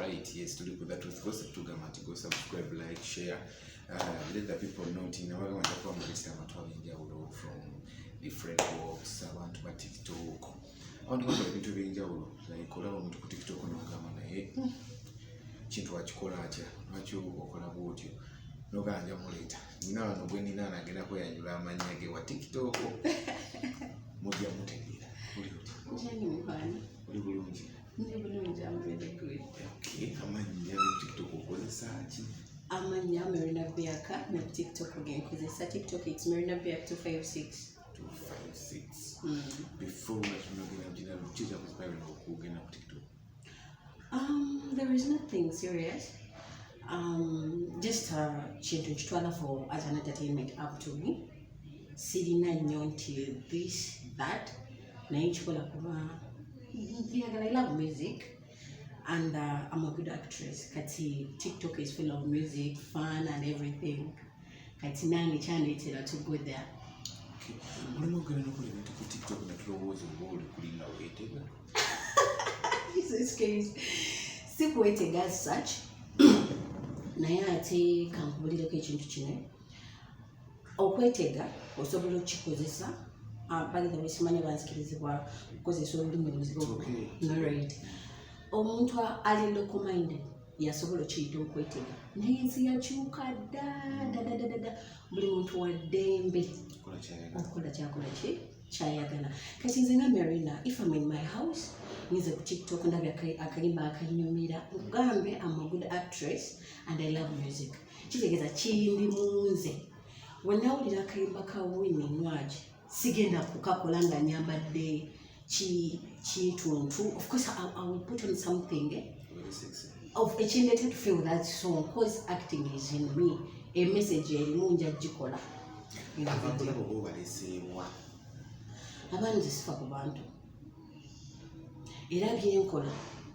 Right, yes, tuli ku the truth gossip tugamba nti go subscribe like share uh, let the people know nti nabaga banja kuba mulisa abantu ab'enjawulo from different walks abantu ba tiktok abantu bakola ebintu ebyenjawulo like olaba omuntu ku tiktok nogamba naye hmm, kintu wakikola atya lwaki okola bwotyo nogamba nja muleeta nina wano gwe nina nagenda kweyanjula amannya ge wa tiktok mujja mutegeera oli bulungi amannya merina beaka ne tiktok genkozesa tiktok its merina beak 256 Um, there is nothing serious. Um, just uh, kintu nkitwala for as an entertainment up to me. Sirina nnyo nti this that. Mm -hmm. naye nkikola kuba njagala i love music and uh, i'm a good actress kati tiktok is full of music fun and everything kati nange kyandeetera to go there mulimu ogenda nokola ebintu ku tiktok netulowooza oba oli kulinga weetega si kuwetega such naye ate kankubulireko ekintu kino okwetega osobola okukikozesa ah, bagenda besimanya banzikirizibwa okukozesa olulimi oluzibunarid omuntu ali lokomind yasobola okiyita okwetega naye ensi yakyuka dadadadada buli muntu waddembe okukola kyakola ki kyayagala kati nze nga marina if am in my house nze ku tiktok ndabye akalimba akanyumira nkugambe am a good actress and i love music kitegeeza kindi mu nze wenawulira akayimba ka wini nwagi sigenda kukakola nga nyambadde kintuntu ofcourse iwill put on something eh? ekindeeta to feel that song cause acting is in me emessage erimu nja gikola abaana zesifa ku bantu era byenkola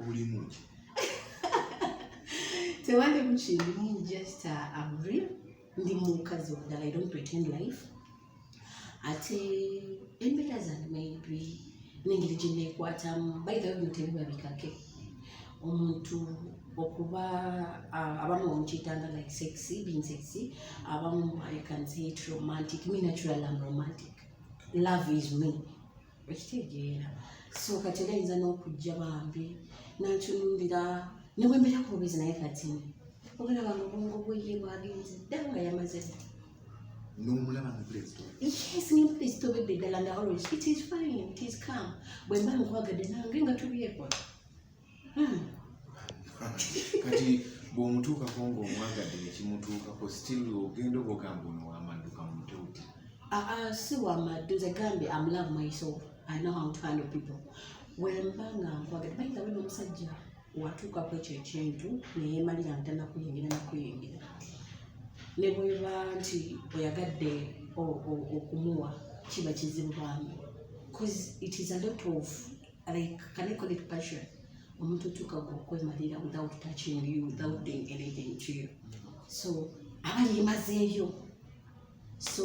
obulimu ki tewalimu kindimu just uh, am real ndi mukazi omulala i don't pretend life ate embeera zange maybe nengeri gye neekwatamu by the way bino tebibabikake omuntu okuba abamu bamukiyitanga like sexy being sexy abamu i can say it romantic me naturally am romantic love is me okitegeera so kati era ayinza n'okujja bambi nantunumbira ne bwe mbeera kububizi naye kati obulaba nga obwongo bweye bwagenze ddala nga yamaze n'omulaba nga pulezito yes nga pulezito bebe ddala nga always it is fine it is calm bwe mba nkwagadde nange nga tubyekwa hmm. kati bw'omutuukako ng'omwagadde ne kimutuukako still ogenda oba ogamba ono wamadduka mu mutewuti ah, ah, si wamaddu nze gambye am love myself i know how to handle people wemba nga nkwagadde bayinza wena omusajja watuukako ekyo ekintu neyemalira ntana kuyingira nakuyingira ne bweba nti oyagadde okumuwa kiba kizibu bambi bcause it is a lot of like can I call it passion omuntu otuuka gwe okwemalira without touching you without doing anything to you so aba yemazeeyo so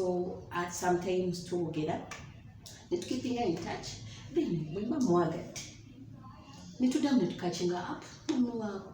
at sometimes twogera netukipinga in touch then mwemba mwagadde netudamu netukakinga up mumuwaako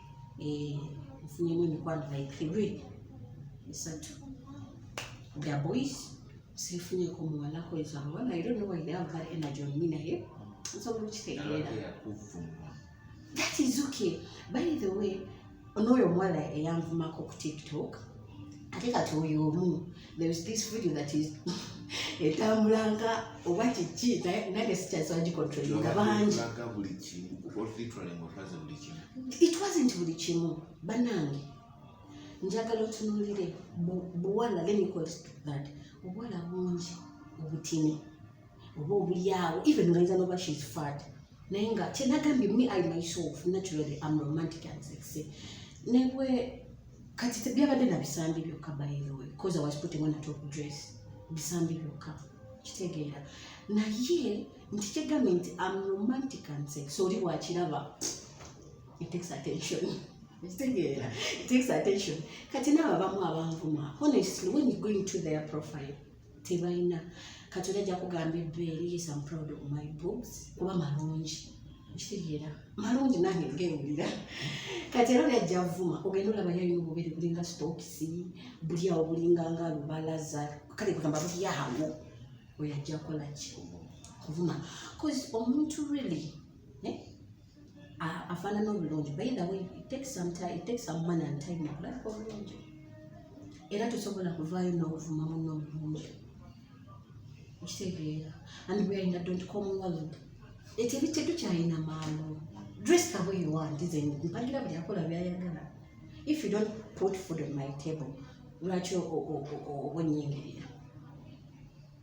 eh, nfunyemu emikwano like three esatu the boys sifunyeko muwala kweza abawala i don't know why they have that energy on me naye nsobola okitegeera that is okay by the way onooyo omuwala eyanvumako ku tiktok ate kati oyo omu there is this video that is etambulanga oba kiki nange sikyasagikontrolinga bangi it wasn't buli kimu banange njagala otunulire buwala let me call that obuwala bungi obutini oba obulyawo even ngayinza noba shes fad naye nga kyenagambye me i myself naturally am romantic and sexy nebwe kati byabadde nabisambi byokka by the way bcause i was putting on a top dress bisambi byokka kitegeera naye nti kyegambye nti am romantic and sex oli wakiraba it takes attention kitegeera it takes attention kati naabo abamu abanvuma honestly when you going to their profile tebalina kati oli ajja kugamba ebbeere yes am proud of my books kuba malungi kitegeera malungi nange ngewulira kati era olyajja avuma ogenda olaba yalina obubere bulinga stokisi buli awo bulinga nga lubalaza kale kugamba buli awo oyo ajja kolaki kuvuma bcause omuntu really eh? afaanana obulungi by the way it takes some time it takes some money and time okulabika obulungi era tosobola kuvaayo n'obuvuma munno obulungi okitegeera and we are in a dot com world ekyo ebitte tukyalina maalo dress the way you want is mpagira buli akola byayagala if you don't put food on my table lwaki obonyingirira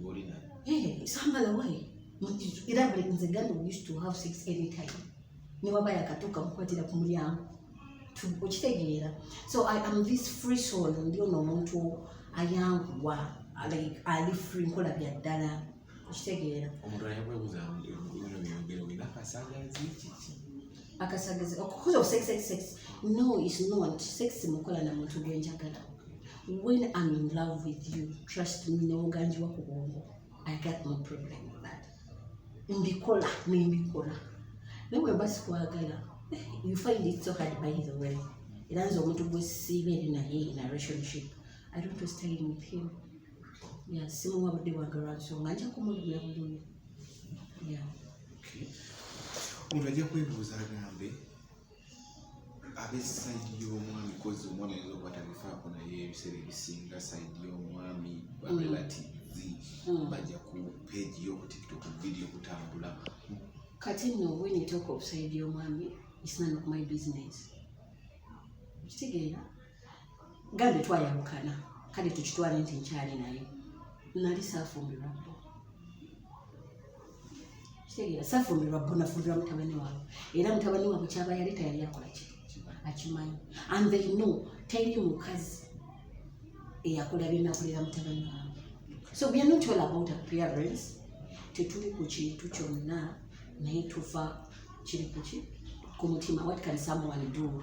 ngoli na eh samba la wali ira bali nze ganda we used to have sex any time ni baba yakatuka mkwatira ku mulyango okitegeera so i am this free soul ndi ono omuntu ayanguwa like ali free nkola bya ddala okitegeera omuntu ayakwebuza akasagazi okukoza sex sex sex no is not sex mukola na muntu gwenjagala when i'm in love with you trust me newoganjiwa ku bwongo i got no problem with that mbikola nembikola naye wemba sikwagala eh, you find it so hard by the way era nze omuntu gwesiiba eri naye in a relationship i don't to stay with him ya simuwa budde bwange lwansonga nja kumulumya bulumi ya omuntu ajja kwebuuza agambe abesayidi y'omwami kozi omwami ayinza okuba tabifaako naye ebiseera ebisinga sayidi y'omwami barelativi mm. mm. bajja ku peegi y'okutiktok vidiyo kutambula kati no when you talk of sayidi y'omwami it's none of my business kitegeera gambe twayawukana kale tukitwale nti nkyali naye nali saafumbirwa bo kitegeera saafumbirwa bo nafumbirwa mutabani waabwe era mutabani waabwe kyaba yali tayali akola ki akimanyi and they know teri mukazi eyakola byenakolera mutabani waabwe so we are not all about appearance tetuli ku kintu kyonna naye tuva kiri kuki ku mutima what can someone do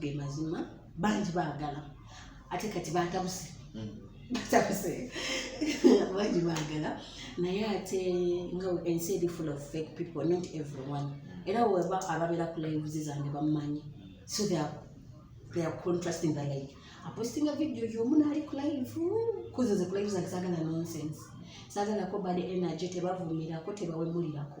ge mazima bangi baagala ate kati batabuse hmm. batabuse bangi baagala naye ate nga ensi eri full of fake people not everyone hmm. era weba ababeera ku lives zange bamumanyi so they are, they are contrasting the like apostinga video yomu naali ku live kuzo ze ku live zange sagala nonsense sagalako bad energy tebavumirako tebawemulirako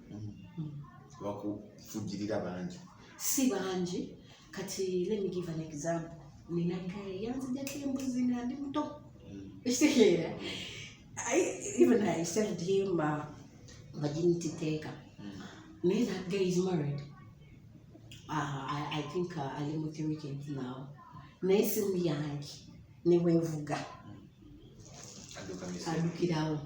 bakufugirira bangi si bangi kati let me give an example nina kale yanzijako embuzi nga ndi muto ekitegeera even i said him uh, virginity taker mm. naye that guy is married uh, I, i think uh, ali mu three kids now naye simu yange newevuga adukirawo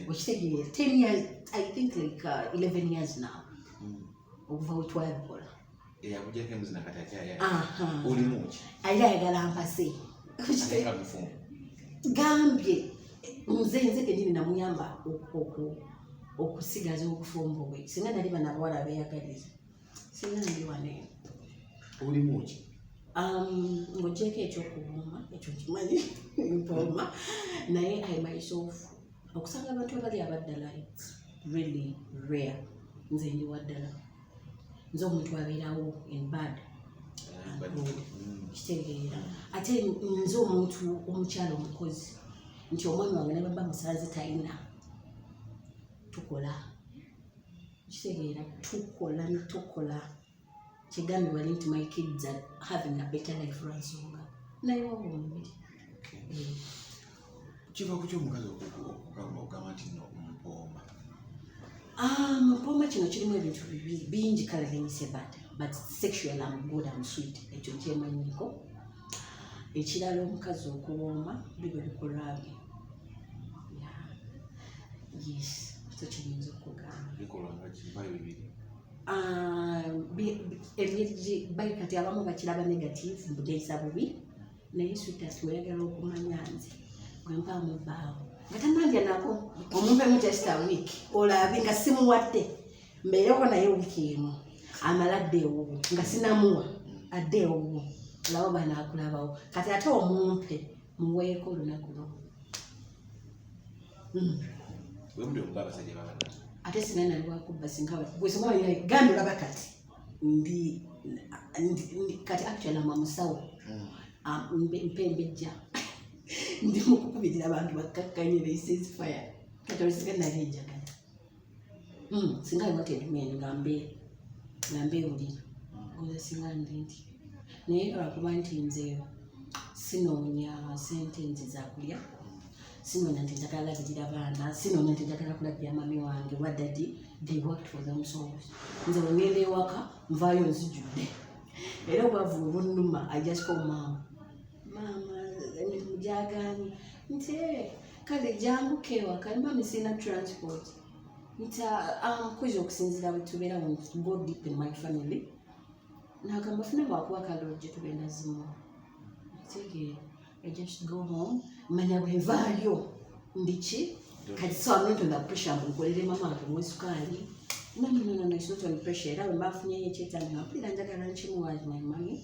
okitegeera ten years i think like uh, 11 years now mm. okuva wetwabikola era ayagala mpase gambye nze nze kenyini namuyamba okusigaza okufumba obwe singa nali banabawala beyagaliza olimuki um, ngogyeko ekyokuwoma ekyo kimanyi mpooma naye i myself okusanga abantu abali abaddala its really rare nze ndi waddala nze omuntu abeerawo in bad mm. kitegeera ate nze omuntu omukyala omukozi nti omwana wange nebaba musanze talina tukola kitegeera tukola ne tukola kigambi wali nti my kids are having a better life lwansonga naye waba omubiri eh. kiva ku kyomukazi okugamba nti no mpooma ah, mpooma kino kirimu ebintu bibiri bingi kale lemisebad but sexual am good am sweet ekyo nkyemanyiko ekirala omukazi okuwooma biba bikolwa bye yes so kiyinza okugamba bikolwa nga kibayo bibiri ah, bayi kati abamu bakiraba negative mbugeyisa bubi naye sweetas weyagala okumanya nze bwemba mubaawo nga tananja nako omuvemu just a week olabe nga simuwadde mbeereko naye wiiki emu amala adde ewuwo nga sinamuwa adde ewuwo laba banaakulabawo kati ate omumpe muweeko olunaku lwo hmm. ate sina nali wakubba singa gwesomagambi olaba kati ndi kati actually ama musawo hmm. ah, mpembejja ndi mukukubirira abantu bakkakkanye they says fire kati olisiga nali enjagala mm singa iwate men ngambe ngambe uli ngoza singa ndindi naye lwakuba nti nze sinoonya sente nti zakulya sinoonya nti njagala labirira baana sinoonya nti njagala kulabira mami wange oba dadi they worked for them so nze wengenda ewaka nvaayo nzijudde era obwavu obunuma i just call maama maama emirimu gyagaanye nti kale jangu kewa kalima misina transport nta amkuja um, okusinzira butubera mu go deep in my family nagamba funa bwakuwa kalojje tubenda zimu tege i just go home manya bwevaayo ndiki kati so i'm not on the pressure mbukolere mama wange mwesukaali no no no no it's not on pressure era bwe mbafunyeyo ekyetandika mpulira njagala nkimuwaali my money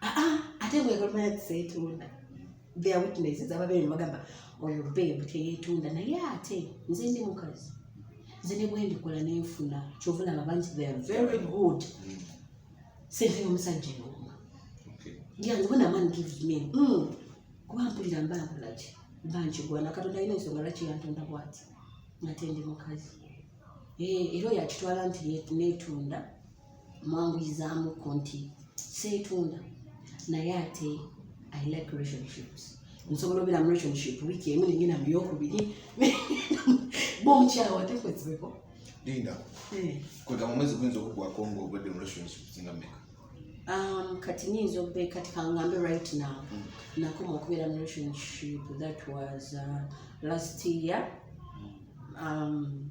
ah, ah, ate bwegamaya tiseetunda their witnesses ababeere nebagamba oyo bebu teyeetunda naye ate nze ndi mukazi nze ne bwendikola nenfuna kyova laba bangi they are very good mm. sente y'omusajja eyooma yange bona man gives me mm. kuba mpulira mba nkolaki mba nkigwana katonda alina ensonga lwaki yantonda bwati ngate ndi mukazi eh, era oyo akitwala nti neetunda mwanguyizaamuko nti seetunda naye ate i like relationships nsobola obeera mu relationship wiiki emu nengenda mu yokubiri bonkyawa tekwezibeko linda eh. kwegamba omwezi guyinza okugwako nga obadde mu relationship singa meka um, kati nyinza obe kati kangambe right now mm. nakoma okubeera mu relationship that was uh, last year mm. um,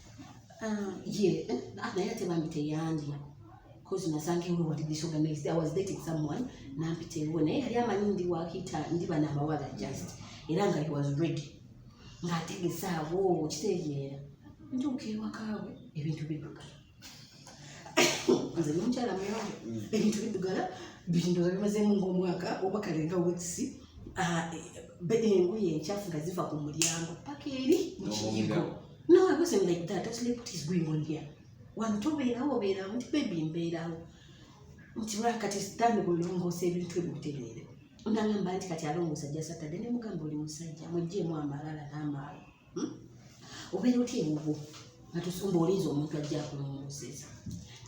Um, yeah, eh, ah, naye ate bambi teyandya cause nasanga ewe wali disorganized i was dating someone nampita ewe naye yali amanyi ndi wakita ndi bana abawala just era nga he was ready ng'ategesaawo kitegeera ntuuka ewakaawe ebintu bidduka nze nomukyala muyonjo mm. ebintu bidugala bindoza bimazeemu ngaomwaka oba kalenga wekisi ah, eh, engoye enkyafu nga ziva ku mulyango paka eri mukiyigo no i wasn't like that i was like what is going on here wantu obeerawo obeerawo nti bebi mbeerawo nti lwakati sitaani kulongoosa ebintu ebyo butereere nangamba nti kati alongoosa jasatade ne mugamba oli musajja mujjeemu amalala n'amaalo hmm? obeera otya ewuwo nga tusumba olinza omuntu ajja akulongooseeza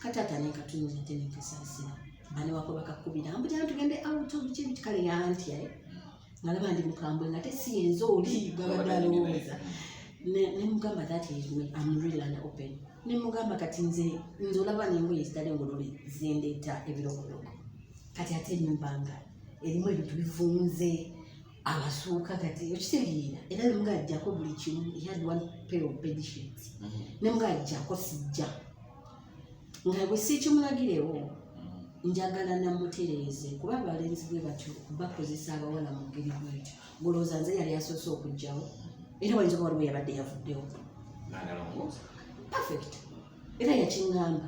kataata nenkatunula ate nenkasaasira bane wako bakakubira mbujana tugende out of kibi kikale yanti aye ngalaba ndi mukambwe ngate si yenze oli gabadde alowooza nemugamba that is me am real and open nemugamba kati nze nze olaba nengoye zitali ngolole zendeeta ebirokoloko kati ate enyumba nga erimu ebintu bivunze abasuuka kati okitegeera era nemuga ajjako buli kimu had one pair of bedshit mm-hmm. nemuga ajjako sijja nga bwe siikimulagirewo mm-hmm. njagala namutereeze kuba abalenzi bwe batyo bakozesa abawala mu ngeri bwetyo ngolowooza nze yali asoose okugjawo mm-hmm. era wayinza oba waliwo yabadde yavuddewo perfect era yakiŋamba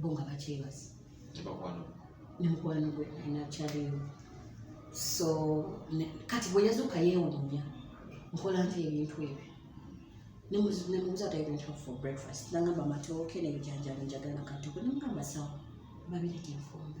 bo nga bakyebaza ne mukwano gwe alina kyaliyo so kati bwe yazuuka yeewuunya nkola nti ebintu ebyo nemubuza ati ebintu for breakfast nangamba matooke nebijanjalo njagala katoko nemugamba sawa babirete nfumbe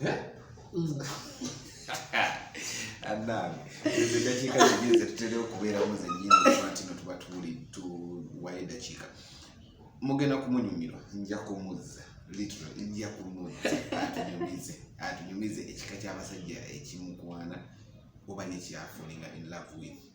Eh? Mm. anange ezo eddakiika zennyini zetutera okubeeramu zennyini lwaki no tuba tuli tuwayo eddakiika mugenda kumunyumirwa nja kumuzza literally nja kumuzza atunyumize atunyumize ekika ky'abasajja ekimukwana oba nekyafulinga in love with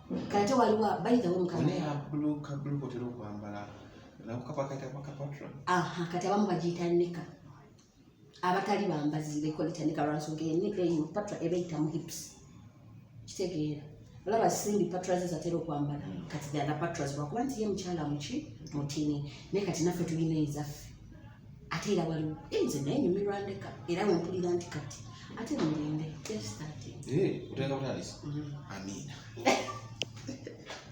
kate waliwo bayitawo mukaatera okwambala kati abamu bagiyita nika abatali bambazi bekoleta nika lwansonga eyo patra ebayita mu hips kitegeera olaba simbi patra ze zatera okwambala hmm. kati dala patra zibakuba nti ye mukyala muki mutini naye kati naffe tulina ezaffe ate era waliwo nze naye nyumirwa ndeka era wempulira nti kati ate mugende just starting eh, mm. amiina